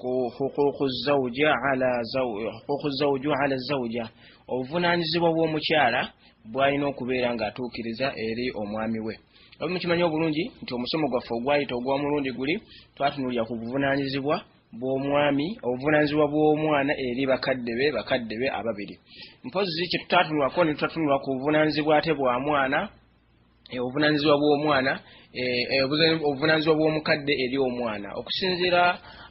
ku huquuqu zauja ala huquuqu zauju ala zauja obuvunaanyizibwa bw'omukyala bw'alina okubeera ng'atuukiriza eri omwami we obi mukimanyi obulungi nti omusomo gwaffe ogwayita ogw'omulundi guli twatunulira ku buvunaanyizibwa bw'omwami obuvunaanyizibwa bw'omwana eri bakadde be bakadde be ababiri mpozzi kye tutatunulako ne tutatunula ku buvunaanyizibwa ate bwa mwana Eh, obuvunanyizibwa bw'omwana eh, eh, obuvunanyizibwa bw'omukadde eri omwana okusinziira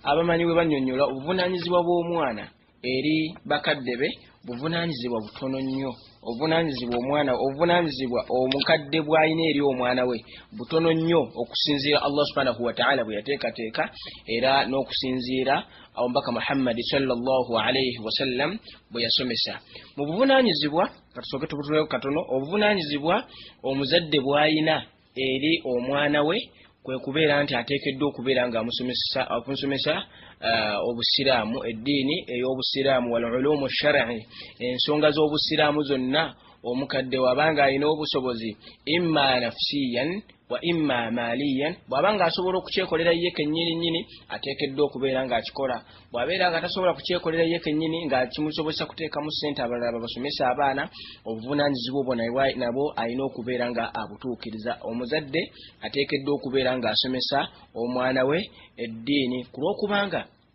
abamanyi bwe banyonyola obuvunanyizibwa bw'omwana eri bakadde be buvunanyizibwa butono nnyo obuvunanyizibwa omwana obuvunanyizibwa omukadde bw'alina eri omwana we butono nnyo okusinziira allah subhanahu wataala bwe yateekateeka era n'okusinziira omubaka muhammadi salllahu alaihi wasallam bwe yasomesa mu buvunanyizibwa katusooke tubutulewo katono obuvunanyizibwa omuzadde bwayina eri omwana we kwe kubeera nti ateekeddwa okubeera nga amusomesa uh, obusiraamu eddiini ey'obusiraamu wal ulumu shar'i ensonga z'obusiraamu zonna omukadde wabanga alina obusobozi imma nafsiyan wa imma maliyan bw'aba ng'asobola okukyekolera ye kennyini nnyini ateekeddwa okubeera ng'akikola bw'abeera nga tasobola kukyekolera ye kennyini nga kimusobozesa kuteekamu ssente abalala babasomesa abaana obuvunaanyizibwa obwo nabwo alina okubeera nga abutuukiriza omuzadde ateekeddwa okubeera ng'asomesa omwana we eddiini ku lw'okubanga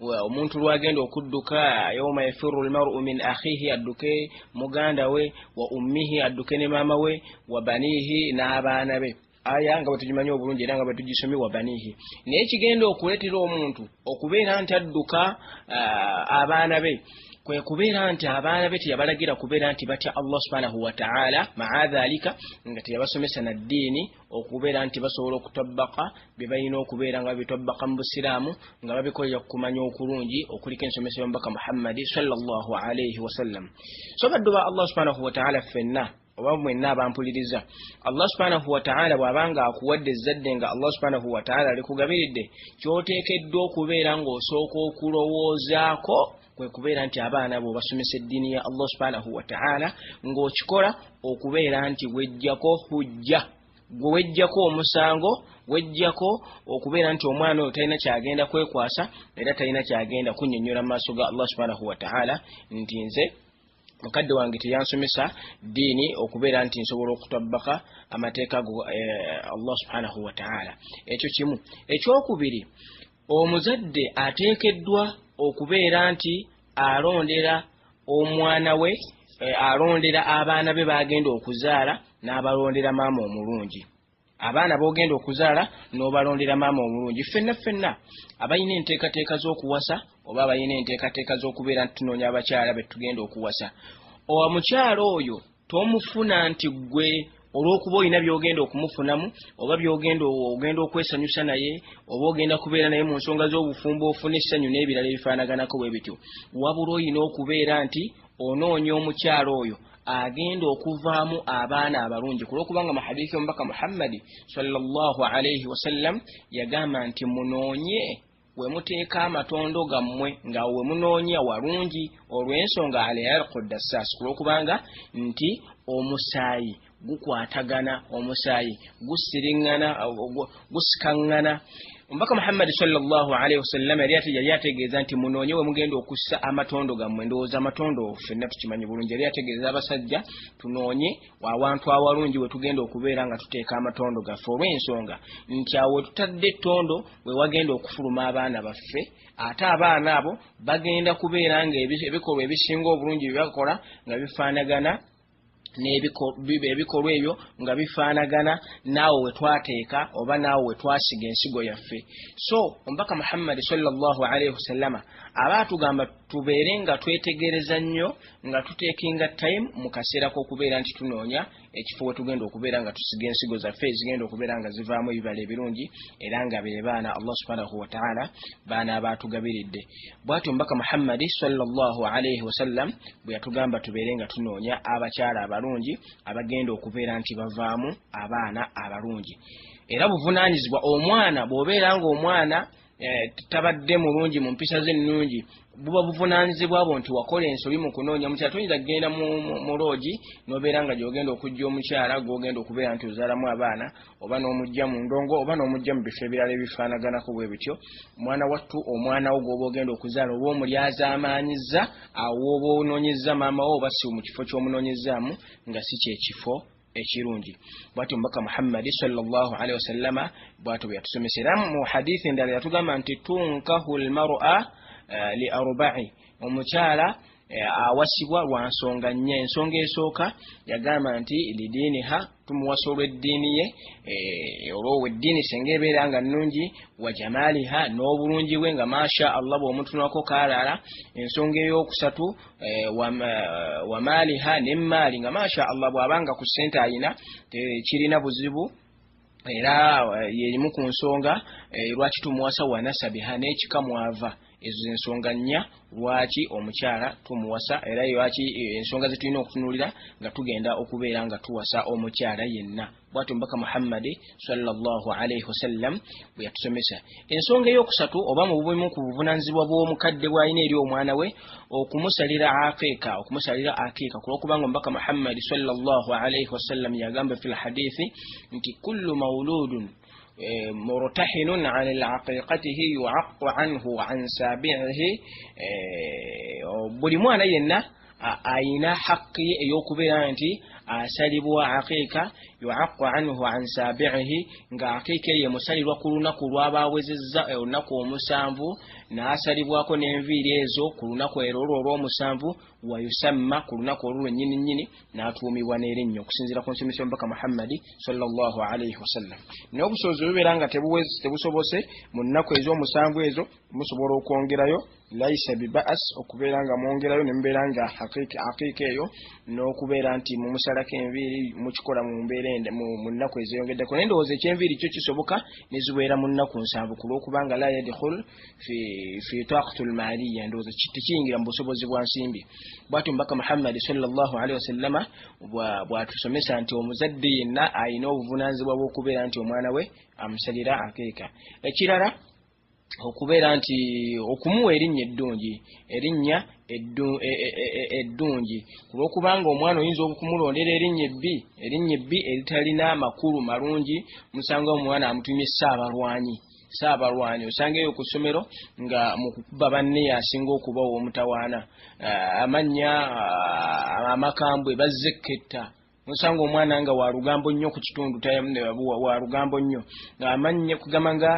omuntu lwagenda okudduka yawma yafiru lmaru min akhihi adduke muganda we wa ummihi adduke ne maama we wa baniihi n'abaana be aya nga bwetugimanyi obulungi era nga bwetugisomye wa baniihi naye kigenda okuleetera omuntu okubeera nti adduka abaana be kwe kubeera nti abaana be teyabalagira kubeera nti batya allah subhanahu wataala maa dhalika nga teyabasomesa na ddiini okubeera nti basobola okutabbaka bye balina okubeera nga babitabbaka mu busiraamu nga babikolera ku kumanya okulungi okuliko ensomesa y'omubaka muhammadi salllah alaihi wasallam so baddu ba allah subhanahu wataala ffenna oba mwenna abampuliriza allah subhanahu wataala bw'abanga akuwadde ezzadde nga allah subhanahu wataala alikugabiridde ky'oteekeddwa okubeera ng'osooka okulowoozaako kwe kubeera nti abaana bo obasomesa eddiini ya allah subhanahu wataala ng'okikola okubeera nti wejjako hujja gwe wejjako omusango wejjako okubeera nti omwana oyo talina kyagenda kwekwasa era talina kyagenda kunyonyola mu maaso ga allah subhanahu wataala nti nze mukadde wange teyansomesa ddiini okubeera nti nsobola okutabbaka amateeka go eh, allah subhanahu wataala ekyo kimu ekyokubiri Omuzadde ateekeddwa okubeera nti alondera omwana we, alondera abaana be b'agenda okuzaala n'abalondera maama omulungi. Abaana b'ogenda okuzaala n'obalondera maama omulungi. Ffenna ffenna abalina enteekateeka z'okuwasa oba abalina enteekateeka z'okubeera nti tunoonya abakyala be tugenda okuwasa, omukyala oyo, tomufuna nti gwe olwokuba olina byogenda okumufunamu oba byogenda ogenda okwesanyusa naye oba ogenda kubeera naye mu nsonga z'obufumbo ofuna essanyu n'ebirala ebifaanaganako bwe bityo wabula olina okubeera nti onoonya omukyalo oyo agenda okuvaamu abaana abalungi kulwokubanga mahadiisi omubaka muhammadi salllah alaihi wasallam yagamba nti munoonye we muteeka amatondo gammwe nga we munoonya walungi olw'ensonga alyarqu dassaas kulw'okubanga nti omusaayi gukwatagana omusaayi gusiriŋŋana gusikaŋŋana omubaka muhammadi salllahalaihi wasallama yali ategeeza nti munoonye we mugenda okussa amatondo gammwe ndowooza amatondo fenna tukimanyi bulungi yali ategeeza abasajja tunoonye awantu awalungi we tugenda okubeera nga tuteeka amatondo gaffe olw'ensonga nti awo wetutadde ettondo we wagenda okufuluma abaana baffe ate abaana abo bagenda kubeera nga ebikolwa ebisinga obulungi bye bakola nga bifaanagana n'ebikolwa ebyo nga bifaanagana naawe we twateeka oba naawe we twasiga ensigo yaffe so omubaka muhammadi sallallahu alaihi wasallama aba atugamba tubeere nga twetegereza nnyo nga tutekinga time mu kaseera k'okubeera nti tunoonya ekifo we tugenda okubeera nga tusiga ensigo zaffe ezigenda okubeera nga zivaamu ebibala ebirungi era nga be baana allah subhanahu wataala baana abaatugabiridde bwatyo omubaka muhammadi salllah alaihi wasallam bwe yatugamba tubeere nga tunoonya abakyala abalungi abagenda okubeera nti bavaamu abaana abalungi era buvunaanyizibwa omwana bw'obeera ng'omwana Eh, tabadde mulungi mu mpisa ze ennungi buba buvunaanyizibwa bwo nti wakola ensobi mu kunoonya mukyala toyinza kugenda mu loogi n'obeera nga gy'ogenda okujja omukyala gw'ogenda okubeera nti ozaalamu abaana oba n'omujja mu ndongo oba n'omujja mu bifo ebirala ebifaanaganako bwe bityo mwana wattu omwana wo gw'oba ogenda okuzaala oba omulyazaamaanyizza awo oba onoonyezza maama wo oba si mu kifo ky'omunoonyezzaamu nga si kyekifo ekirungi bwati omubaka muhammadi salli wasalama bwati bwe yatusomesa era mu hadithi endala yatugamba nti tunkahu lmara eh, li arbai omukyala eh, awasibwa lwa nsonga nnya ensonga esooka yagamba nti lidiiniha tumuwasa olw'eddiini ye eh, olwoweddiini senga ebeera nga nnungi wa jamaaliha n'obulungi bwe nga masha allah bw'omutunako kaalala ensonga ey'okusatu Eh, wamaaliha eh, nemaali nga masha allah bwabanga ku sente ayina tekirina buzibu era eh, yerimu ku nsonga lwaki tumuwasa wanasabiha n'ekika mwava ezo zensonga nnya lwaki omukyala tumuwasa era lwaki ensonga zetulina okutunulira nga tugenda okubeera nga tuwasa omukyala yenna bwatyo mubaka muhammadi salllah alaihi wasallam bwe yatusomesa ensonga eyokusatu oba mu bumu ku buvunanyizibwa bw'omukadde bwalina eri omwana we okumusalira aqiika okumusalira aqiika kulwokubanga omubaka muhammadi salllah alaihi wasallam yagamba fi lhadithi nti kullu mauludun eh, murtahinun an aqiqatihi yuaqu anhu an sabiihi eh, buli mwana yenna ayina haqqi eyokubeera nti asalibwa aqiika yuaqqu anhu an saabiihi nga aqiika eyo emusalirwa ku lunaku lwaba awezezza e, olunaku omusanvu n'asalibwako n'enviiri ezo ku lunaku ero olwo olw'omusanvu wayusamma ku lunaku olwo lwennyini nnyini n'atuumibwa n'erinnya okusinziira ku nsomesa omubaka muhammadi salllah alaihi wasallam naye obusobozi bubeera nga tebusobose mu nnaku ez'omusanvu ezo musobola okwongerayo laisa bibaas okubeera nga mwongerayo ne mubeera nga aqiika eyo n'okubeera nti mumusalako enviiri mukikola mu mbeera ende mu nnaku ezeyongeddeko naye ndowooza ekyenviiri kyo kisoboka ne zibeera mu nnaku nsanvu ku lw'okubanga la yadkhul fi taqatu lmaaliya ndowooza tekiyingira mu busobozi bwa nsimbi bwati omubaka muhammadi salllahu alehi wasallama bwatusomesa nti omuzadde yenna alina obuvunaanyizibwa bw'okubeera nti omwana we amusalira akeeka ekirala okubeera nti okumuwa erinnya eddungi erinnya e, e, e, eddungi ku lw'okubanga omwana oyinza okumulondera erinnya ebbi erinnya ebbi eritalina amakulu malungi musanga omwana amutumye saabalwanyi saabalwanyi osanga eyo ku ssomero nga mukukuba banne yasinga okuba ow'omutawaana amannya amakambwe bazze ekketta osanga omwana nga walugambo nnyo ku kitundu walugambo nnyo ngaamannya kugamba nga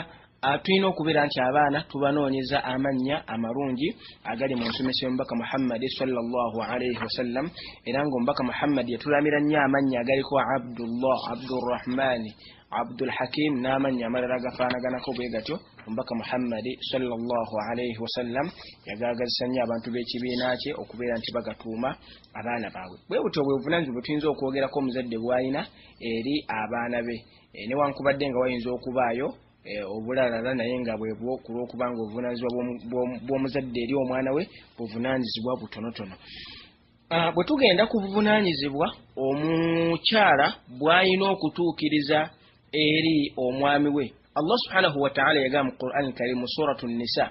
tulina okubeera nti abaana tubanoonyeza amannya amalungi agali mu nsomesa y'omubaka muhammadi salllahalaihi wasallam era ngaomubaka muhammadi yatulamira nnyo amannya agaliko abdullah abdurahmani abdulhakim n'amannya amalala agafaanaganako bwe gatyo omubaka muhammadi salllahalaihi wasallam yagaagazisa nnyo abantu b'ekibiina kye okubeera nti bagatuuma abaana baabwe. Bwe butyo bwe buvunaanyizibwa bwe tuyinza okwogerako omuzadde bw'alina eri abaana be eh, newankubadde nga wayinza okubaayo eh, obulalala naye nga bwebwo ku lw'okuba nga obuvunaanyizibwa bw'omuzadde eri omwana we buvunaanyizibwa butonotono. Ah, bwe tugenda ku buvunaanyizibwa omukyala bw'alina okutuukiriza eri omwami we, Allah subhanahu wa ta'ala yagamba mu Qur'an Karim mu Suratu Nisa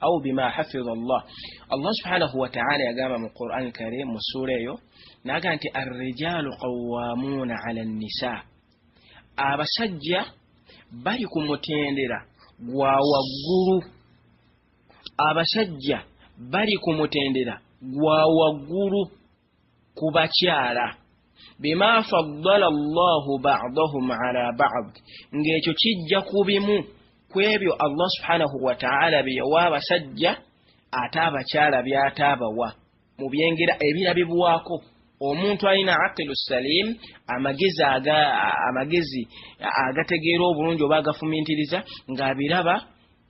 au bima hafidha Allah Allah subhanahu wa ta'ala yagamba mu Qur'an karim mu sura eyo naga nti ar-rijalu qawwamuna 'ala an-nisa abasajja bali ku mutendera gwa waggulu abasajja bali ku mutendera gwa waggulu ku bakyala bima faddala allahu badahum ala bad ng'ekyo kijja ku bimu ku ebyo allah subhanahu wataala bye yawa abasajja ate abakyala by'ate abawa mu byengera ebirabibwako omuntu alina aqilu salim amagezi aga amagezi agategeera obulungi oba agafumintiriza ng'abiraba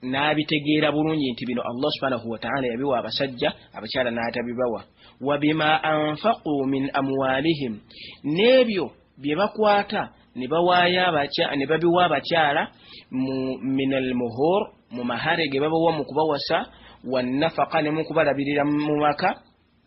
n'abitegeera bulungi nti bino allah subhanahu wataala yabiwa abasajja abakyala n'atabibawa wa bima anfaqu min amwalihim n'ebyo bye bakwata ne bawaayo ne babiwa abakyala mu min almuhur mu mahare ge babawa mu kubawasa wannafaka ne mu kubalabirira mu maka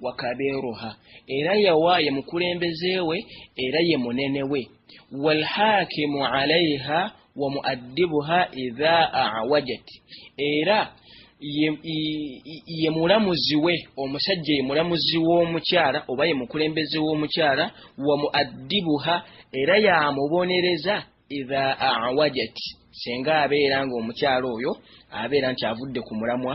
wakabeeruha era yawa ye mukulembeze we era ye munene we walhakimu alaiha wa muaddibuha idha awajat era ye mulamuzi we omusajja ye mulamuzi w'omukyala oba ye mukulembeze w'omukyala wa muaddibuha era yamubonereza idha awajat senga abeera ng'omukyala oyo abeera nti avudde ku mulamwa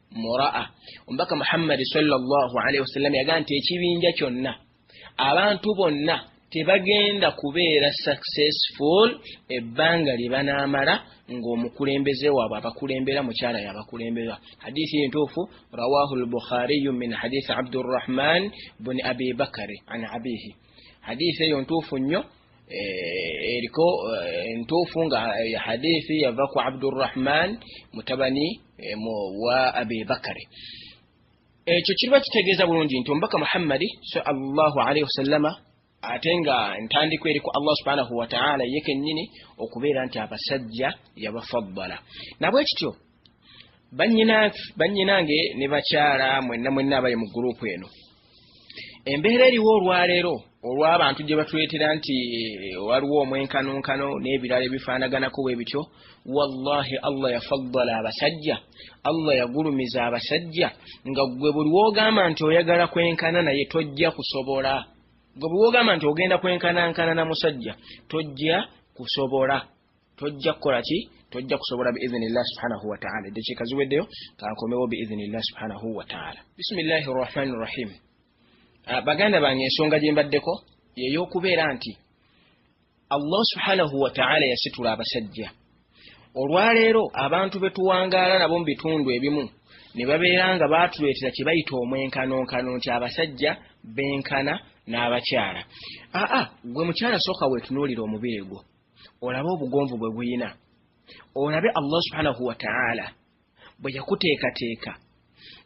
muraa omubaka muhammadi sawasalam yaga nti ekibinja kyonna abantu bonna tebagenda kubeera successful ebbanga lye banaamala ng'omukulembeze waabwe abakulembera mukyala yabakulembera hadithi entuufu rawahu lbukhariyu min hadithi abdurrahman buni abi bakari an abihi hadithi eyo ntuufu nnyo Eh, eriko eh, ntuufu nga eh, hadithi yava ku abdurrahman mutabani wa abi bakari ekyo kiriba kitegeeza bulungi nti omubaka muhammadi sallallahu alaihi wasallama ate nga ntandikwa eri ku allah subhanahu wataala ye kennyini okubeera nti abasajja yabafaddala nabwekityo bannyinange ne bakyala mwenna mwenna abali mu guruupu eno embeera eriwo olwaleero olw'abantu gye batuleetera nti eh, waliwo omwenkanonkano n'ebirala ebifaanaganako bwe bityo wallahi allah yafaddala abasajja allah yagulumiza abasajja nga gwe buli wogamba nti oyagala kwenkana naye tojja kusobola gwe buli wogamba nti ogenda kwenkanankana na musajja tojja kusobola tojja kukola ki tojja kusobola biidhinillah subhanahu wataala eddakiika ziweddeyo kankomewo biidhinillah subhanahu wataala bisimillahi rrahmani rrahim ah, baganda bange ensonga gye mbaddeko yeyokubeera nti allah subhanahu wataala yasitula abasajja olwaleero abantu be tuwangaala nabo mu bitundu ebimu ne babeera nga baatuleetera kye bayita omwenkanonkano nti abasajja benkana n'abakyala aa gwe mukyala sooka weetunuulira omubiri gwo olabe obugonvu bwe buyina olabe allah subhanahu wataala bwe yakuteekateeka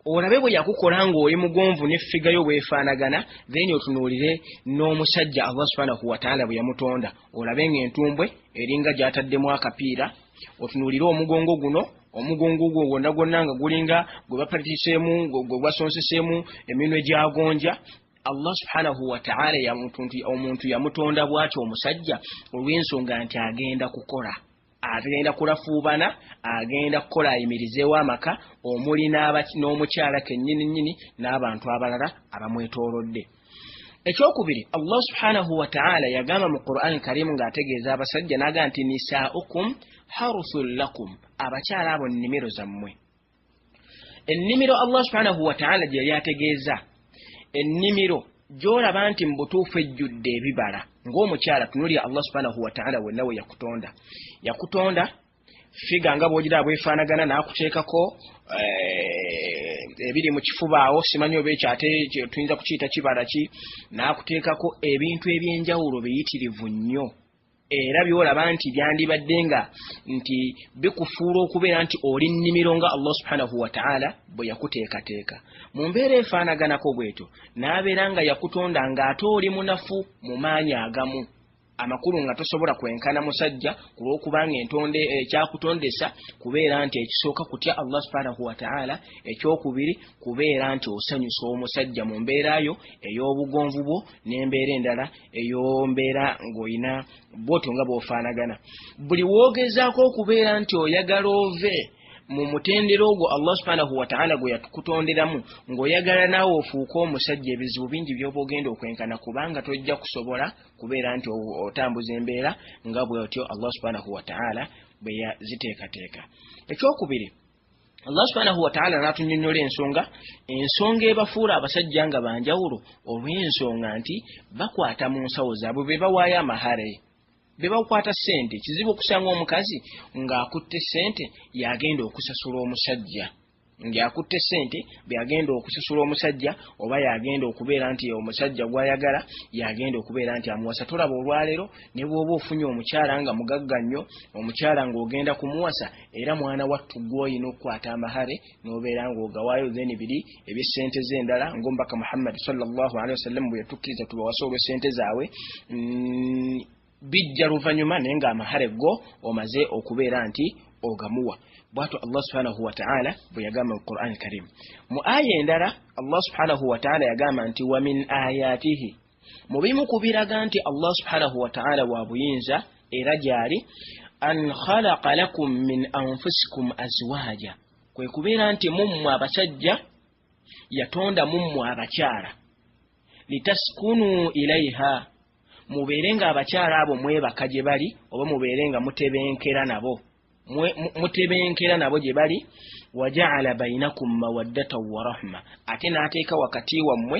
olabe bwe yakukola ng'oli mugonvu n'effiga yo bwefaanagana then otunuulire n'omusajja allah subhanahu wataala bwe yamutonda olabe ng'entumbwe eringa gy'ataddemu akapiira otunuulire omugongo guno omugongo gwo gwonna gwonna nga gulinga gwe bapatiseemu gwe gwasonsesemu eminwe gyagonja Allah subhanahu wa ta'ala yamutunti omuntu yamutonda bwati omusajja olw'ensonga nti agenda kukola agenda kulafuubana agenda kukola ayimirizeewo amaka omuli n'omukyala kennyini nnyini n'abantu abalala abamwetoolodde ekyokubiri Allah subhanahu wa ta'ala yagamba mu Qur'an karimu ng'ategeeza abasajja n'aga nti nisaa'ukum haruthul lakum abakyala abo nnimiro zammwe ennimiro allah subhanahu wataala gye yali ategeeza ennimiro gy'olaba nti mu butuufu ejjudde ebibala ng'omukyala tunulya allah subhanahu wataala wenna we yakutonda yakutonda figa nga bwogera abwefaanagana n'akuteekako eh, ebiri mu kifuba awo simanyi oba ekyo ate tuyinza kukiyita kibala ki n'akuteekako ebintu eby'enjawulo biyitirivu nnyo era byolaba nti byandibadde nga nti bikufuula okubeera nti oli nnimiro nga allah subhanahu wataala bwe yakuteekateeka mu mbeera efaanaganako bwetyo n'abeera nga yakutonda ng'ate oli munafu mu maanyi agamu amakulu nga tosobola kwenkana musajja ku lw'okubanga entonde eh, ekyakutondesa kubeera nti ekisooka kutya allah subhanahu wataala ekyokubiri kubeera nti osanyusa omusajja mu mbeera yo ey'obugonvu bwo n'embeera endala ey'ombeera ng'olina bwoto nga bw'ofaanagana buli woogezaako okubeera nti oyagala ove mu mutendera ogwo allah subhanahu wataala gwe yakutonderamu ng'oyagala naawe ofuuke omusajja ebizibu bingi by'oba ogenda okwenkana kubanga tojja kusobola kubeera nti otambuza embeera nga bwotyo allah subhanahu wataala bwe yaziteekateeka ekyokubiri allah subhanahu wataala n'atunyonyola ensonga ensonga ebafuula abasajja nga banjawulo olw'ensonga nti bakwata mu nsawo zaabwe be bawaayo amahare be bakwata ssente kizibu okusanga omukazi ng'akutte ssente yagenda okusasula omusajja ng'akutte ssente byagenda okusasula omusajja oba yagenda okubeera nti omusajja gw'ayagala yagenda okubeera nti amuwasa tolaba olwaleero ne bw'oba ofunye omukyala nga mugagga nnyo omukyala ng'ogenda kumuwasa era mwana wattu gwoyina okukwata amahare nobeera nga ogawaayo then biri ebyesente ze endala ngaomubaka muhammadi salllahalihi wasallam bwe yatukkiriza tubawasa olwesente zaabwe mm, bijja luvanyuma naye nga amahare go omaze okubeera nti ogamuwa bwatyo allah subhanahu wataala bwe yagamba mu quran karimu mu aya endala allah subhanahu wataala yagamba nti wamin ayatihi mu bimu ku biraga nti allah subhanahu wataala wa buyinza era gyali an khalaqa lakum min anfusikum azwaja kwe kubeera nti mummwe abasajja yatonda mummwe abakyala litaskunu ilaiha mubeere nga abakyala abo mwebaka gye bali oba mubeere nga mutebenkera nabo mutebenkera nabo gye bali wajaala bainakum mawaddatan warahma ate n'ateeka wakati wammwe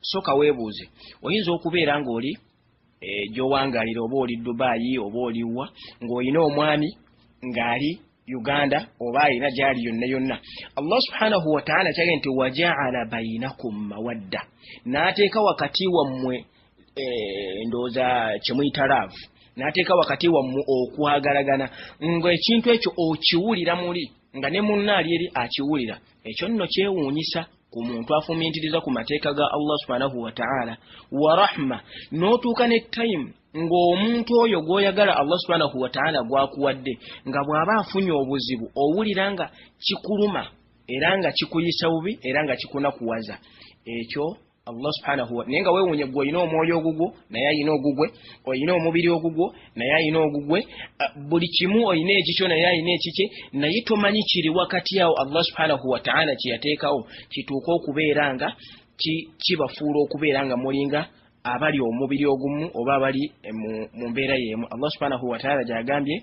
Sooka weebuuze, Oyinza okubeera ng'oli e, gy'owangaalira oba oli Dubai oba oliwa ng'olina omwami ng'ali Uganda oba alina gy'ali yonna yonna. Allah subhanahu wa ta'ala kyagee nti wajaala bainakum mawadda, n'ateeka wakati wammwe e, ndowooza kye muyita laavu, n'ateeka wakati wammwe okwagalagana, ng'ekintu ekyo okiwulira muli nga ne munnaali eri akiwulira. Ekyo nno kyewuunyisa. ku muntu afumintiriza ku mateeka ga allah subhanahu wataala wa rahma n'otuuka ne time ng'omuntu oyo gw'oyagala allah subhanahu wataala gwakuwadde nga bw'aba afunye obuzibu owulira nga kikuluma era nga kikuyisa bubi era nga kikunakuwaza ekyo allah subhanahu naye nga weewuunye gwe olina omwoyo ogugwo naye alina ogugwe olina omubiri ogugwo naye ayina ogugwe buli kimu oyina ekikyo naye ayina ekikye naye tomanyi kiri wakati awo allah subhanahu wataala kyeyateekawo kituuka okubeera nga kibafuula okubeera nga mulinga abali omubiri ogumu oba abali mu mbeera yeemu allah subhanahu wataala gyagambye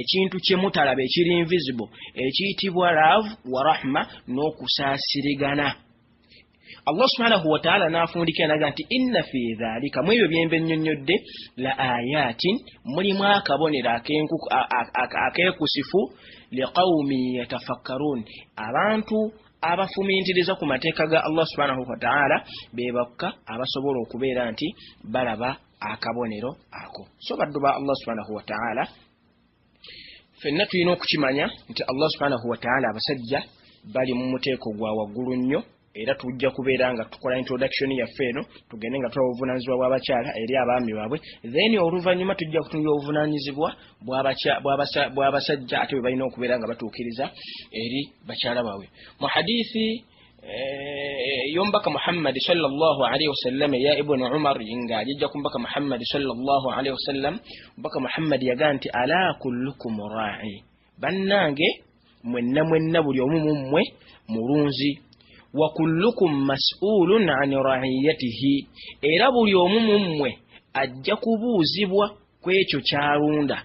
ekintu kyemutalaba ekiri invisible ekiyitibwa love wa rahma n'okusaasirigana allah subhanahu wataala n'afundikira naga nti inna fi dhalika mu ebyo byembe nnyonnyodde la ayatin mulimu akabonero akeekusifu liqaumi yatafakkaruun abantu abafumintiriza ku mateeka ga allah subhanahu wataala be bakka abasobola okubeera nti balaba akabonero ako so baddu ba allah subhanahu wataala fenna tulina okukimanya nti allah subhanahu wataala abasajja bali mu muteeko gwa waggulu nnyo era tujja kubeera nga tukola introduction yaffe eno tugende nga tula obuvunanyizibwa bw'abakyala eri abaami baabwe then oluvannyuma tujja kutunula obuvunanyizibwa bw'abasajja ate bwe balina okubeera nga batuukiriza eri bakyala baabwe mu hadithi yombaka muhammadi salllah alaihi wasallam eya ibuni umar nga ajijja ku mbaka muhammadi salllah alaihi wasallam mbaka muhammadi yaga nti ala kullukum rai bannange mwenna mwenna buli omu mu mmwe mulunzi wa kullukum masulun an raiyatihi era buli omu mu mmwe ajja kubuuzibwa kwekyo kyalunda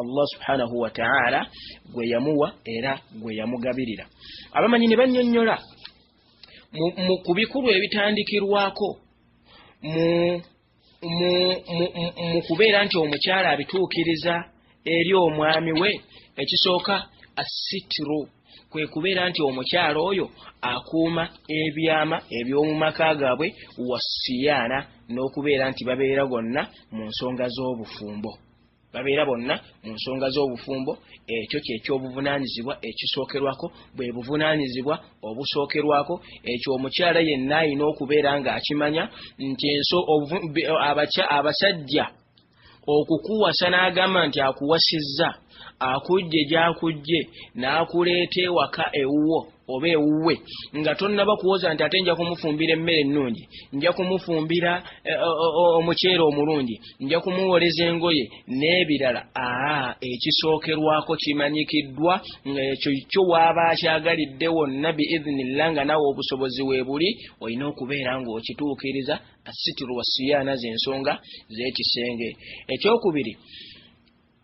allah subhanahu wataala gwe yamuwa era gwe yamugabirira abamanyi ne bannyonnyola ku bikulu ebitandikirwako mu kubeera nti omukyala abituukiriza eri omwami we ekisooka assitru kwe kubeera nti omukyala oyo akuuma ebyama eby'omu maka gaabwe wasiyaana n'okubeera nti babeera gonna mu nsonga z'obufumbo babeera bonna mu nsonga z'obufumbo ekyo kyekyobuvunaanyizibwa ekisookerwako bwe buvunaanyizibwa obusookerwako ekyo omukyala yenna alina okubeera ng'akimanya nti enso abasajja okukuwasa n'agamba nti akuwasizza akujje gy'akujje n'akuleeta ewaka ewuwo oba ewuwe nga tonnaba kuwoza nti ate nja kumufumbira emmere ennungi nja kumufumbira eh, omuceere omulungi nja kumuwoleza engoye n'ebirala aa ekisookerwako kimanyikiddwa ng'ekyo kyo waaba akyagalidde wonna biiznillah nga nawe obusobozi weebuli olina okubeera ng'okituukiriza assitiru wasiyaana z'ensonga z'ekisenge ekyokubiri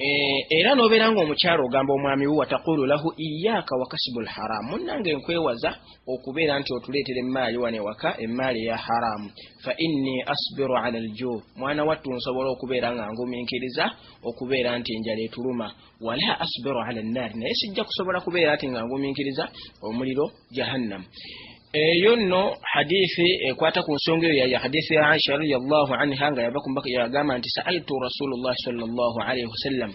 Eh, era nobeera nga omukyalo ogamba omwami wo watakulu lahu iyaaka wakasibu lharamu munange nkwewaza okubeera nti otuleetera emmaali wano ewaka emmaali eya haramu fa inni asbiru ala lju mwana wattu nsobola okubeera nga nguminkiriza okubeera nti enjala etuluma wala asbiru ala nnaari naye sijja kusobola kubeera ti nga nguminkiriza omuliro jahannam eyo nno hadithi ekwata ku nsonga eyo yaya hadithi ya aisha radiallahu anha nga yava kumbaka yagamba nti saaltu rasulullahi salllah alaihi wasallam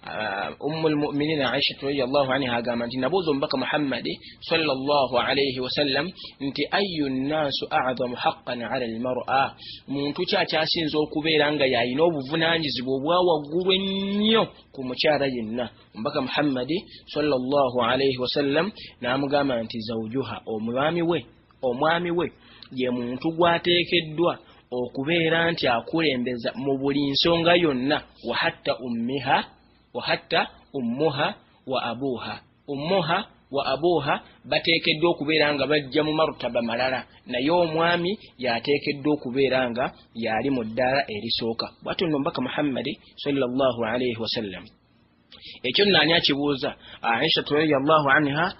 uh, ummu lmuminina aishatu radiallahu anha agamba nti nabuuza omubaka muhammadi salllah alaihi wasallam nti ayu nnaasu azamu haqqan ala lmara muntu ki akyasinza okubeera nga yalina obuvunanyizibwa obwa waggulu ennyo ku mukyala yenna omubaka muhammadi sallallahu alaihi wasallam n'amugamba nti zaujuha omwami we omwami we ye muntu gwateekeddwa okubeera nti akulembeza mu buli nsonga yonna wahatta ummiha wahatta ummuha wa abuuha ummuha wa abuuha bateekeddwa okubeera nga bajja mu marutaba malala naye omwami yateekeddwa okubeera nga yaali mu ddaala erisooka bwatyo nno mbaka muhammadi sallallahu alaihi wasallam ekyo nani akibuuza aisha radiyallahu anha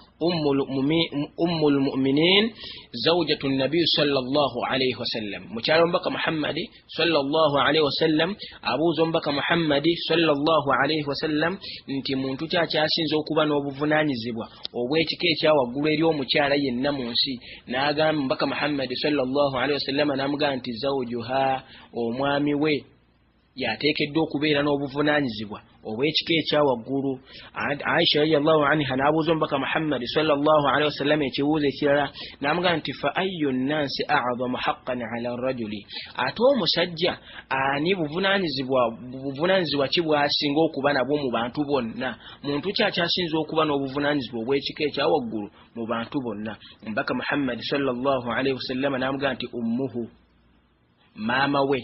ummu lmuminin zaujatu nabiy salllah alaihi wasallam mukyalo omubaka muhammadi salllah alaihi wasallam abuuza omubaka muhammadi salllah alaihi wasallam nti muntu ki akyasinza okuba n'obuvunanyizibwa obw'ekika ekyawaggulu eri omukyala yenna mu nsi n'agamba omubaka muhammadi salllah alaihi wasallama n'amugamba nti zaujuha omwami we y'ateekeddwa okubeera n'obuvunaanyizibwa obw'ekika ekya waggulu aisha radiallahu anha n'abuuza omubaka muhammadi salllahu alehi wasallama ekibuuzo ekirala n'amuga nti fa ayu nnansi azamu haqqan ala rajuli ate omusajja ani buvunaanyizibwa ki bwasinga okuba nabwo mu bantu bonna muntu ki akyasinza okuba n'obuvunaanyizibwa obw'ekika ekya waggulu mu bantu bonna omubaka muhammadi salllahu alehi wasallama n'amuga nti ummuhu maama we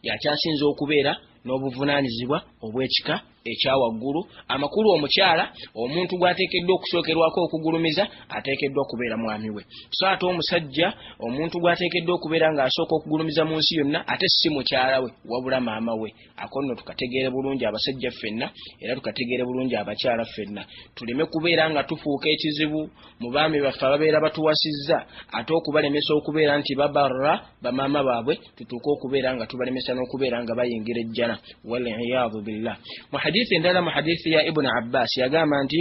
y'akyasinze okubeera n'obuvunaanyizibwa obw'ekika ekya waggulu amakulu omukyala omuntu gw'ateekeddwa okusookerwako okugulumiza ateekeddwa okubeera mwami we so ate omusajja omuntu gw'ateekeddwa okubeera ng'asooka okugulumiza mu nsi yonna ate si mukyala we wabula maama we Ako nno tukategeere bulungi abasajja ffenna era tukategeere bulungi abakyala ffenna, tuleme kubeera nga tufuuka ekizibu mu baami baffe ababeera batuwasizza ate okubalemesa okubeera nti babarra bamaama baabwe tutuuke okubeera nga tubalemesa n'okubeera nga bayingira ejjana waliyadu billah. Mu hadithi endala mu hadithi ya Ibuni Abbaasi yagamba nti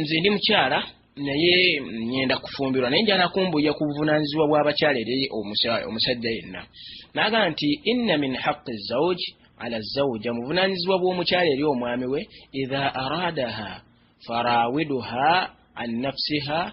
nze ndi mukyala naye ngenda kufumbirwa naye njala kumbuya ku buvunaanyizibwa bw'abakyala eri omusajja yenna naagamba nti inna min haqi zauji ala zauja mu buvunaanyizibwa bw'omukyala eri omwami we idha aradaha farawiduha an nafsiha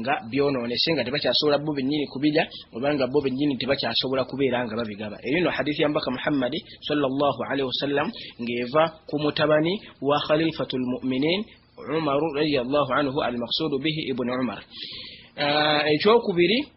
nga byonoonese nga tebakyasobola bo bennyini kubirya obanga bo bennyini tebakyasobola kubeera nga babigaba eyo no hadithi yambaka muhammadi salllahu alaihi wasallam ng'eva ku mutabani wa khalifatu lmuminin umaru radiallahu anhu almaksudu bihi ibuni umar ah, ekyokubiri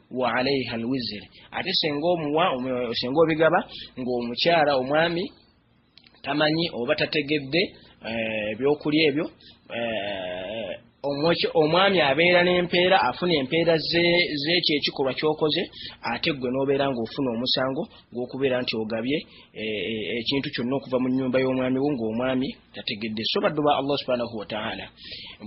wa alaiha alwiziri ate senga omuwa senga obigaba ng'omukyala omwami tamanyi oba tategedde eh, ebyokulya ebyo eh, omwami abeera n'empeera afuna empeera z'ekyo ekikolwa kyokoze ate ggwe n'obeera ng'ofuna omusango gw'okubeera nti ogabye eh, ekintu kyonna okuva mu nnyumba y'omwami wo ng'omwami tategedde so baddu ba allah subhanahu wataala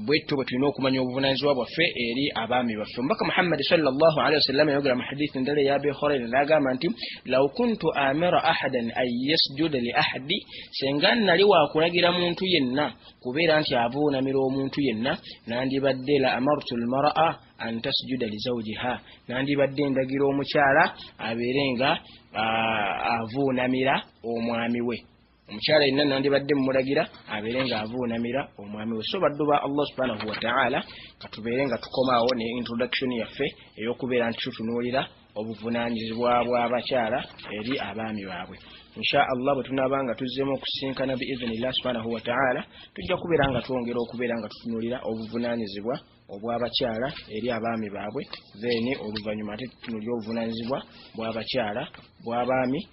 bwetto bwe tulina okumanya obuvunanyizibwa bwaffe eri abaami baffe omubaka muhammadi salllahalihi wasallama yayogera mu hadithi endala eya abi horaira nagamba nti law kuntu amira ahadan an yasjuda li ahadi senga nali wakulagira muntu yenna kubeera nti avuunamira omuntu yenna nandibadde la amartu lmaraa an tasjuda li zawjiha nandibadde ndagira omukyala abeere nga avuunamira omwami we omukyala yenna nandibadde mumulagira abeere nga avuunamira omwami we so baddu ba allah subhanahu wataala katubeere nga tukomaawo ne introduction yaffe eyokubeera nti tutunuulira obuvunanyizibwa bw'abakyala eri abaami baabwe insha allah bwe tunaaba nga tuzzeemu okusisinkana biiznillah subhanahu wataala tujja kubeera nga twongera okubeera nga tutunulira obuvunanyizibwa obw'abakyala eri abaami baabwe then oluvannyuma ate tutunulira obuvunanyizibwa bw'abakyala bw'abaami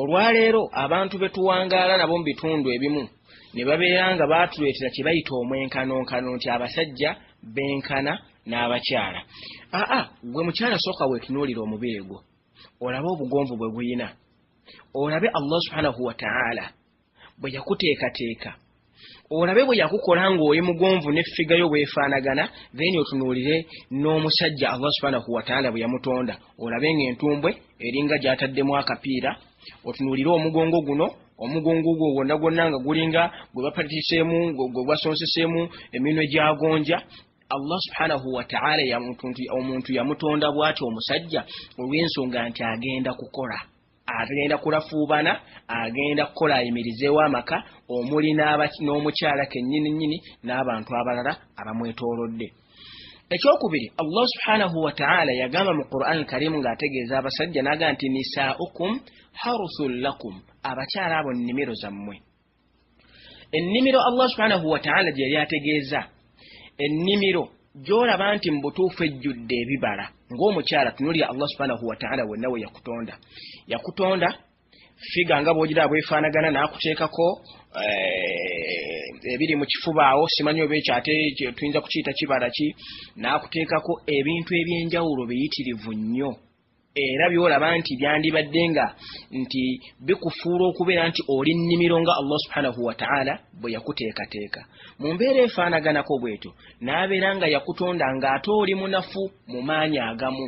Olwaleero abantu be tuwangaala nabo mu bitundu ebimu ne babeera nga baatuleetera kye bayita omwenkanonkano nti abasajja benkana n'abakyala. Aa gwe mukyala sooka weetunuulire omubiri gwo olabe obugonvu bwe guyina olabe Allah subhanahu wataala. bwe yakuteekateeka olabe bwe yakukola ng'oli mugonvu ne ffiga yo bwefaanagana then otunuulire n'omusajja allah subhanahu wataala bwe yamutonda olabe ng'entumbwe eringa gy'ataddemu akapiira otunuulire omugongo guno omugongo gwo gwonna gwonna nga gulinga gwe bapatiseemu gwe gwasonseseemu eminwe gyagonja allah subhanahu wataala omuntu yamutonda bw'atyo omusajja olw'ensonga nti agenda kukola agenda kulafuubana agenda kukola ayimirizeewo amaka omuli n'omukyala kennyini nnyini n'abantu abalala abamwetoolodde ekyokubiri allah subhanahu wataala yagamba mu quran karimu ng'ategeeza abasajja n'aga nti nisaaukum haruthun lakum abakyala abo nnimiro zammwe ennimiro allah subhanahu wataala gye yali ategeeza ennimiro gy'olaba nti mu butuufu ejjudde ebibala ng'omukyala tunulira allah subhanahu wataala wenna we yakutonda yakutonda figa nga bwogiraba bwefaanagana n'akuteekako eh, ebiri mu kifubaawo simanyi oba ekyo ate tuyinza kukiyita kibala ki n'akuteekako ebintu eby'enjawulo biyitirivu nnyo era byolaba nti byandibadde nga nti bikufuula okubeera nti oli nnimiro nga allah subhanahu wataala bwe yakuteekateeka mu mbeera efaanaganako bwetyo n'abeera nga yakutonda ng'ate oli munafu mu maanyi agamu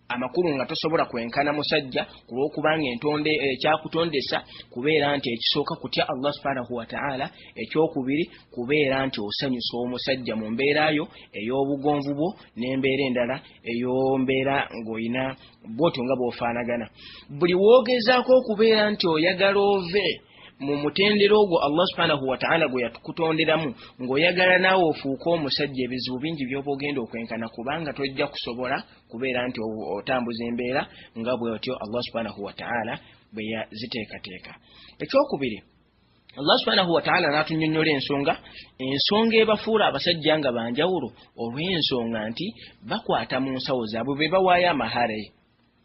amakulu nga tosobola kwenkana musajja ku lw'okubanga entonde eh, ekyakutondesa kubeera nti ekisooka kutya allah subhanahu wataala ekyokubiri kubeera nti osanyusa omusajja mu mbeera yo ey'obugonvu bwo n'embeera endala eyo mbeera ng'olina bwotyo nga bwofaanagana buli woogezaako okubeera nti oyagala ove mu mutendera ogwo allah subhanahu wataala gwe yatukutonderamu ng'oyagala naawe ofuuke omusajja ebizibu bingi byoba ogenda okwenkana kubanga tojja kusobola kubeera nti otambuza embeera nga bwotyo allah subhanahu wataala bwe yaziteekateeka ekyokubiri allah subhanahu wataala n'atunyonnyola ensonga ensonga ebafuula abasajja nga banjawulo olw'ensonga nti bakwata mu nsawo zaabwe be bawaayo amahare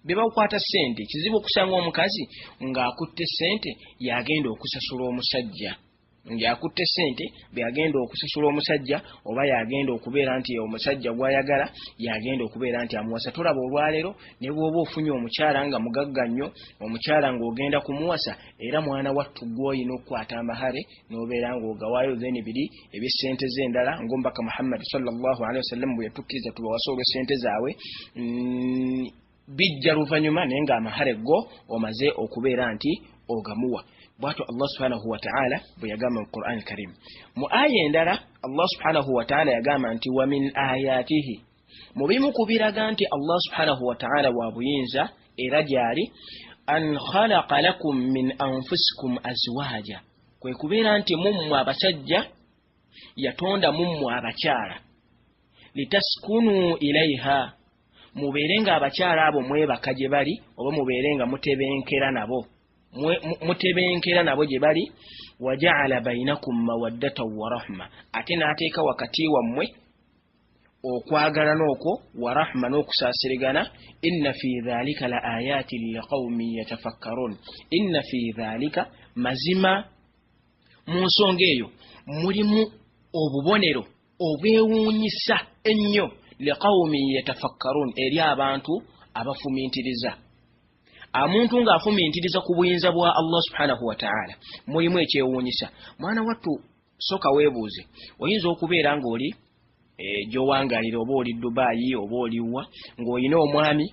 be bakwata ssente kizibu okusanga omukazi ng'akutte ssente yagenda okusasula omusajja ng'akutte ssente beyagenda okusasula omusajja oba yagenda okubeera nti omusajja gwayagala yagenda okubeera nti amuwasa tolaba olwaleero ne bwoba ofunye omukyala nga mugagga nnyo omukyala ng'ogenda kumuwasa era mwana wattu gwoyina okukwata amahare nobeera nga ogawaayo then biri ebyesente ze endala ngaomubaka muhammadi salllahalihi wasallam bwe yatukkiriza tubawasa olwesente zaabwe mm, bijja luvanyuma naye nga amahare go omaze okubeera nti ogamuwa bwatyo allah subhanahu wataala bwe yagamba mu quran karimu mu aya endala allah subhanahu wataala yagamba nti wamin ayatihi mu bimu ku biraga nti allah subhanahu wataala wa buyinza era gyali an khalaqa lakum min anfusikum azwaja kwe kubeera nti mummwe abasajja yatonda mummwe abakyala litaskunu ilaiha mubeere nga abakyala abo mwebaka gye bali oba mubeere nga mutebenkera nabo mutebenkera nabo gye bali wajaala bainakum mawaddatan warahma ate n'ateeka wakati wammwe okwagalana okwo warahma n'okusaasirigana inna fi dhalika la ayaati liqaumin yatafakkarun inna fi dhalika mazima mu nsonga eyo mulimu obubonero obwewuunyisa ennyo liqaumin yatafakkarun eri abantu abafumintiriza amuntu ng'afumintiriza ku buyinza bwa allah subhanahu wataala mulimu ekyewuunyisa mwana wattu Soka webuuze oyinza okubeera ng'oli e, gyowangalira oba oli Dubai oba oliwa ng'olina omwami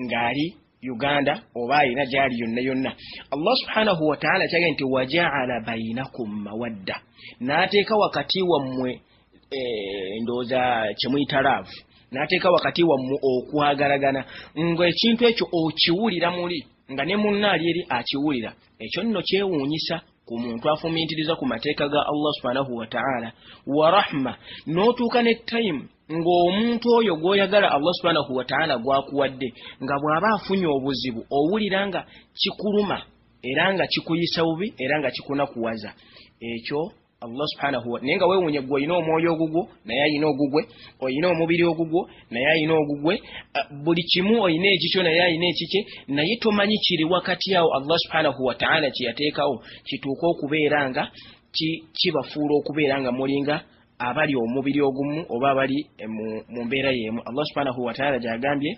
ng'ali Uganda oba alina gyali yonna yonna Allah subhanahu wataala kyage nti wajaala bainakum mawadda n'ateeka wakati wammwe e, ndowooza kyemuyita laavu n'ateeka wakati wammwe okwagalagana ng'ekintu ekyo okiwulira muli nga ne munna ali eri akiwulira ekyo nno kyewuunyisa ku muntu afumintiriza ku mateeka ga allah subhanahu wataala wa rahma n'otuuka ne time ng'omuntu oyo gw'oyagala allah subhanahu wataala gwakuwadde nga bw'aba afunye obuzibu owulira nga kikuluma era nga kikuyisa bubi era nga kikunakuwaza ekyo allah subhanahu naye nga weewunya gwe olina omwoyo ogugwo naye alina ogugwe olina omubiri ogugwo naye ayina ogugwe buli kimu oyina ekikyo naye ayina ekikye naye tomanyi kiri wakati awo allah subhanahu wataala kyeyateekawo kituuka okubeera nga kibafuula okubeera nga mulinga abali omubiri ogumu oba abali eh, mu mbeera yeemu allah subhanahu wataala gyagambye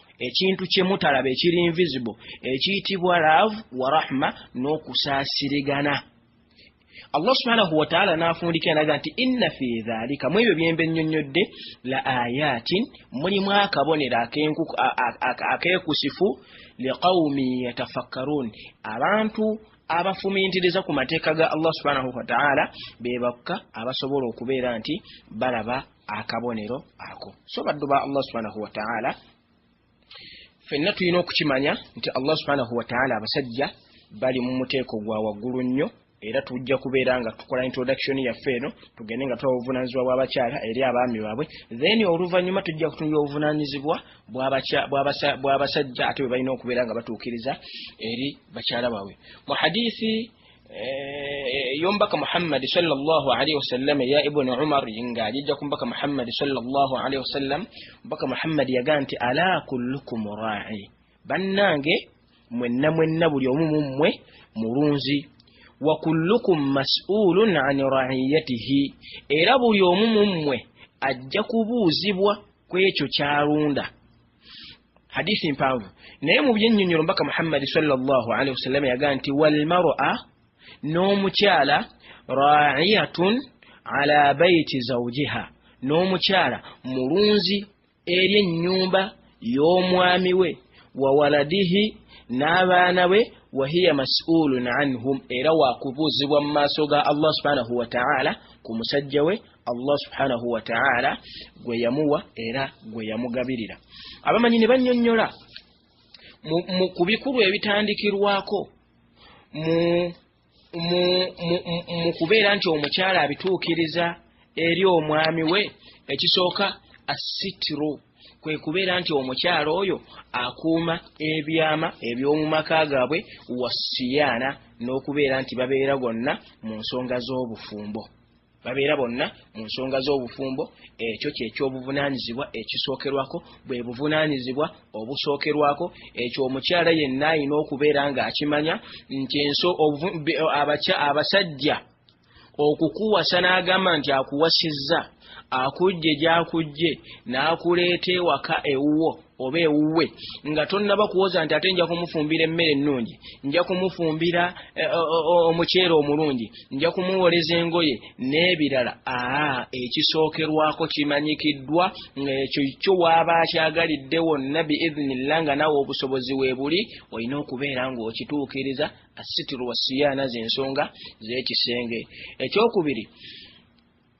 ekintu kyemutalaba ekiri invisible ekiyitibwa love wa rahma n'okusaasirigana allah subhanahu wataala n'afundikira naga nti inna fi dhalika mu ebyo byembe nnyonnyodde la ayatin mulimu akabonero akeekusifu liqaumi yatafakkaruun abantu abafumintiriza ku mateeka ga allah subhanahu wataala be bakka abasobola okubeera nti balaba akabonero ako so baddu ba allah subhanahu wataala fenna tulina okukimanya nti allah subhanahu wataala abasajja bali mu muteeko gwa waggulu nnyo era tujja kubeera nga tukola introduction yaffe eno tugende nga tuwa obuvunanyizibwa bw'abakyala eri abaami baabwe then oluvannyuma tujja kutunula obuvunanyizibwa bw'abasajja ate bwe balina okubeera nga batuukiriza eri bakyala baabwe mu hadithi Eh, yombaka muhammadi salllah alaihi wasallam eya ibuni umar nga ajijja ku mbaka muhammadi salllah alaihi wasallam mbaka muhammadi yaga nti ala kullukum rai bannange mwenna mwenna buli omu mummwe mulunzi wa kullukum masulun an raiyatihi era buli omu mummwe ajja kubuuzibwa kwekyo kyalunda hadisi mpanvu naye mu byenyonyolo mbaka muhammadi salllah alaihi wasallama yaga nti walmara n'omukyala raiyatun ala baiti zaujiha n'omukyala mulunzi eri ennyumba y'omwami we wawaladihi n'abaana be wahiya masulun anhum era wakubuuzibwa mu maaso ga allah subhanahu wataala ku musajja we allah subhanahu wataala gwe yamuwa era gwe yamugabirira abamanyi ne bannyonnyola ku bikulu ebitandikirwako mu kubeera nti omukyala abituukiriza eri omwami we ekisooka assitru kwe kubeera nti omukyala oyo akuuma ebyama eby'omu maka gaabwe wasiyaana n'okubeera nti babeera gonna mu nsonga z'obufumbo babeera bonna mu nsonga z'obufumbo ekyo kyekyobuvunaanyizibwa ekisookerwako bwe buvunaanyizibwa obusookerwako ekyo omukyala yenna alina okubeera ng'akimanya nti enso abasajja okukuwasa n'agamba nti akuwasizza akujje gyakujje n'akuleeta ewaka ewuwo oba ewuwe nga tonnaba kuwoza nti ate nja kumufumbira emmere ennungi nja kumufumbira eh, omuceere omulungi nja kumuwoleza engoye n'ebirala aa ekisookerwako kimanyikiddwa ng'ekyo kyo waaba akyagalidde wonna biiznillah nga nawe obusobozi weebuli olina okubeera ng'okituukiriza assitiru wasiyaana z'ensonga z'ekisenge ekyokubiri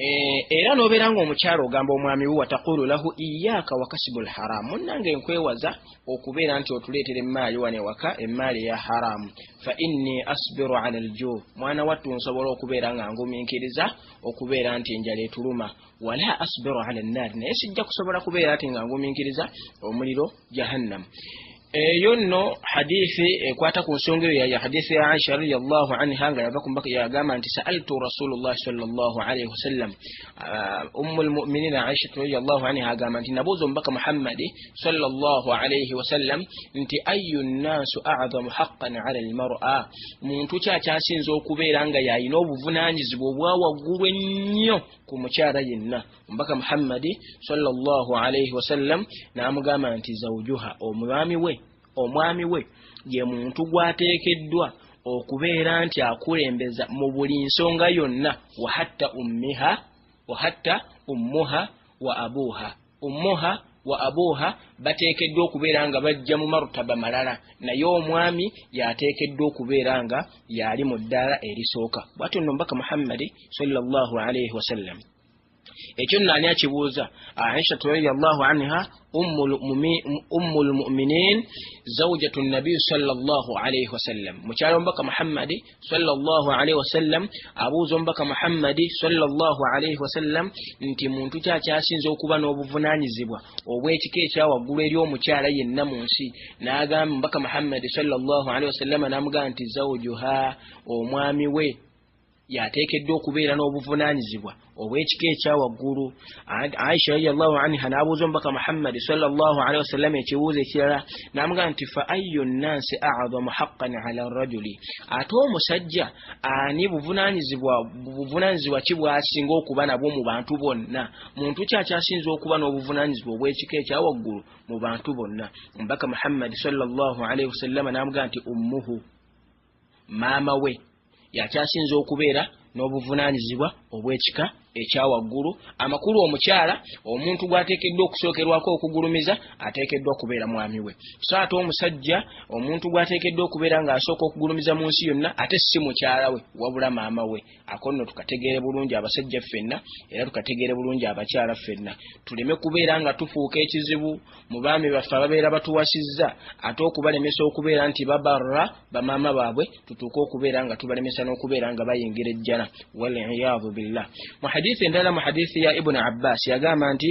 Eh, era nobeera nga omukyalo ogamba omwami wo watakulu lahu iyaaka wakasibu lharamu munange nkwewaza okubeera nti otuleetera emmaali wano ewaka emmaali eya haramu fa inni asbiru ala lju mwana wattu nsobola okubeera nga nguminkiriza okubeera nti enjala etuluma wala asbiru ala nnaari naye sijja kusobola kubeera ti nga nguminkiriza omuliro jahannam eyo nno hadithi ekwata ku nsonga eyo ya hadithi ya aisha radiallahu anha nga yava kumbaka yagamba nti saaltu rasulullahi salllah alaihi wasallam uh, ummu lmuminina aishatu radiallahu anha agamba nti nabuuza omubaka muhammadi salllah alaihi wasallam nti ayu nnaasu azamu haqqan ala lmara muntu ki akyasinza okubeera nga yalina obuvunanyizibwa obwa waggulu ennyo ku mukyala yenna omubaka muhammadi salllahu alaihi wasallam n'amugamba nti zaujuha omwami we omwami we ye muntu gwateekeddwa okubeera nti akulembeza mu buli nsonga yonna wahatta ummiha wahatta ummuha wa abuuha ummuha wa abuuha bateekeddwa okubeera nga bajja mu marutaba malala naye omwami yateekeddwa okubeera nga yaali mu ddaala erisooka bwatyo nno mbaka muhammadi salllahu alaihi wasallam ekyo nno ani akibuuza aishatu radiallahu anha ummu lmuminin zaujatu nabiyi salllah alaihi wasallam mukyalo omubaka muhammadi salllah alaihi wasallam abuuza omubaka muhammadi salllah alaihi wasallam nti muntu ki akyasinza okuba n'obuvunanyizibwa obw'ekika ekyawaggulu eri omukyala yenna mu nsi n'agamba omubaka muhammadi salllah alaihi wasallama n'amugamba nti zaujuha omwami we y'ateekeddwa okubeera n'obuvunaanyizibwa obw'ekika ekya waggulu aisha radiallahu anha n'abuuza omubaka muhammadi salllah alihi wasallama ekibuuzo ekirala n'amuga nti fa ayu nnansi aadamu haqqan ala rajuli ate omusajja ani buvunaanyizibwa ki bwasinga okuba nabwo mu bantu bonna muntu ki akyasinza okuba n'obuvunaanyizibwa obw'ekika ekya waggulu mu bantu bonna omubaka muhammadi salllah alihi wasallama n'amuga nti ummuhu maama we yakyasinza okubeera n'obuvunaanyizibwa obw'ekika ekya waggulu amakulu omukyala omuntu gw'ateekeddwa okusookerwako okugulumiza ateekeddwa okubeera mwami we so ate omusajja omuntu gw'ateekeddwa okubeera ng'asooka okugulumiza mu nsi yonna ate si mukyala we wabula maama we Ako nno tukategeere bulungi abasajja ffenna era tukategeere bulungi abakyala ffenna, tuleme kubeera nga tufuuka ekizibu mu baami baffe ababeera batuwasizza ate okubalemesa okubeera nti babarra bamaama baabwe tutuuke okubeera nga tubalemesa n'okubeera nga bayingira ejjana, wal-iyaadhu billah. Mu hadiithi endala, mu hadiithi ya Ibn Abbaas yagamba nti.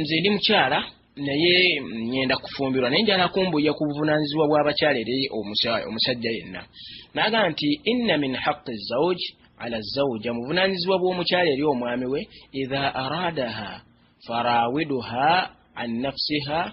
nze ndi mukyala naye ngenda kufumbirwa naye njala kumbuya ku buvunanyizibwa bw'abakyala eri omusajja yenna nagamba nti inna min haqi zauj ala zauja muvunanyizibwa bw'omukyala eri omwami we idha aradaha farawiduha an nafsiha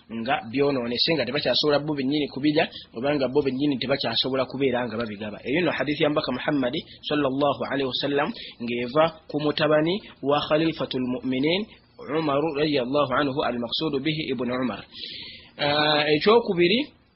nga byonoonese nga tebakyasobola bo bennyini kubirya obanga bo bennyini tebakyasobola kubeera nga babigaba eyo no hadithi ya mbaka muhammadi salllahu alaihi wasallam ng'eva ku mutabani wa khalifatu lmuminin umaru radiallahu anhu almaksudu bihi ibuni umar ah, ekyokubiri uh,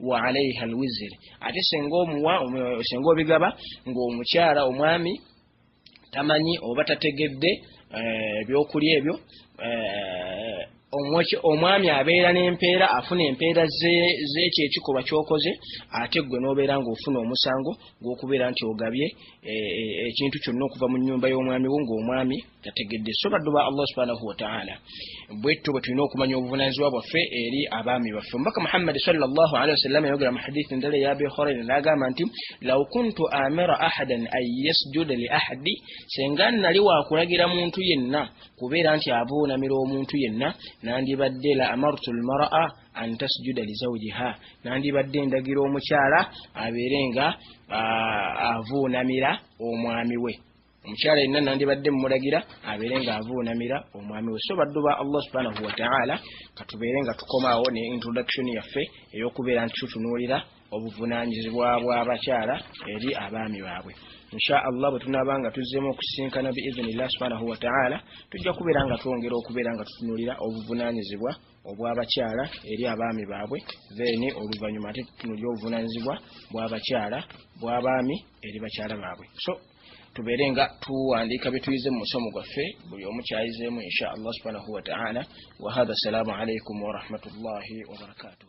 wa alaiha alwiziri ate senga omuwa senga obigaba ng'omukyala omwami tamanyi oba tategedde eh, ebyokulya ebyo eh, omwami abeera n'empeera afuna empeera z'ekyo ekikolwa kyokoze ate ggwe n'obeera ng'ofuna omusango gw'okubeera nti ogabye eh, ekintu kyonna okuva mu nnyumba y'omwami wo ng'omwami tategedde so baddu ba allah subhanahu wataala bwetto bwe tulina okumanya obuvunanyizibwa bwaffe eri abaami baffe omubaka muhammadi salllahalihi wasallama yayogera mu hadithi endala eya abi horaira naagamba nti law kuntu amira ahadan an yasjuda li ahadi senga nali wakulagira muntu yenna kubeera nti abuunamira omuntu yenna nandibadde la amartu lmaraa an tasjuda li zawjiha nandibadde ndagira omukyala abeere nga avuunamira omwami we omukyala yenna nandibadde mumulagira abeere nga avuunamira omwami we so baddu ba allah subhanahu wataala katubeere nga tukomaawo ne introduction yaffe ey'okubeera nti tutunuulira obuvunaanyizibwa bw'abakyala eri abaami baabwe insha allah bwe tunaaba nga tuzzeemu okusisinkana biiznillah subhanahu wataala tujja kubeera nga twongera okubeera nga tutunuulira obuvunaanyizibwa obw'abakyala eri abaami baabwe then oluvannyuma ate tutunuulira obuvunaanyizibwa bw'abakyala bw'abaami eri bakyala baabwe so tubeere nga tuwandiika byetuyize mu musomo gwaffe buli omu kyayizeemu insha allah subhanahu wataala wahadha assalamu alaikum warahmatullahi wabarakatuh